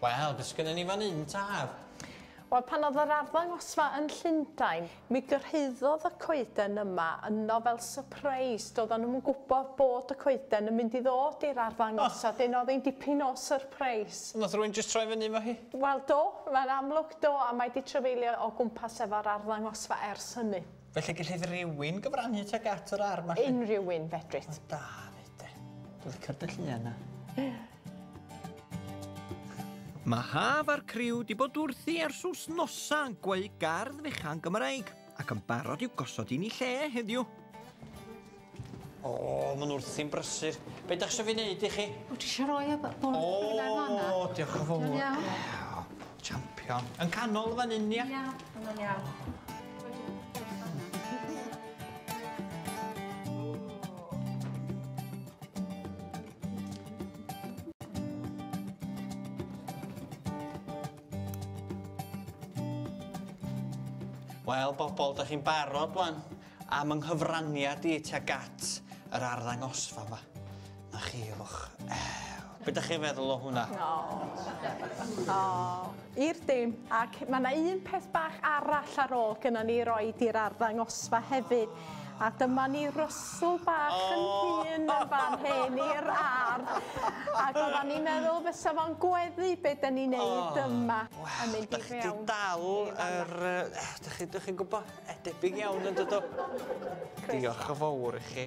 Wel, beth sgynnon ni fan un, tad? Wel, pan oedd yr arddangosfa yn Llundain, mi gyrhaeddodd y coeden yma yno fel surprise. Doedd nhw'm yn gwybod bod y coeden yn mynd i ddod i'r arddangosfa. Oh. Dyn oedd hi'n dipyn o surprise. Nath rwy'n just troi fyny efo hi? Wel do, mae'n amlwg Do, a mae 'di trafeilio o gwmpas efo'r arddangosfa ers hynny. Felly gellid rhywun gyfrannu tuag at yr ardd 'ma 'lly? Unrhyw un, fedrit. O, da, fyd de. Dwi'n licio'r dy llun 'na. Mae Haf a'r criw 'di bod wrthi ers wsnosa yn gweu gardd fechan Gymraeg. Ac yn barod i'w gosod yn ei lle heddiw. O, oh, ma'n wrthi'n brysur. Be da chi eisiau fi wneud i chi? O, ti eisiau rhoi y bol oh, fanna? O, diolch yn fawr. Iawn. Champion. Yn canol fan hyn, ia? Ia, yn iawn. Wel, bobl, da chi'n barod wan am yng nghyfraniad i tuag at yr arddangosfa yma. Na chi, ewch. Be ydych chi'n feddwl o hwnna? O. O. I'r dim. Ac mae yna un peth bach arall ar ôl gyda ni roi i'r arddangosfa hefyd. A dyma ni Russell bach yn hŷn yn fan hyn i'r ar'. Ag oddan ni'n meddwl fysa fo'n gweddu be' 'dyn ni'n neud yma. Yn mynd i fewn. Wel, 'dach chi 'di dal yr yy 'dych chi 'dych chi'n gwbo, e debyg iawn on'd ydw? Croeso. Diolch yn fowr i chi.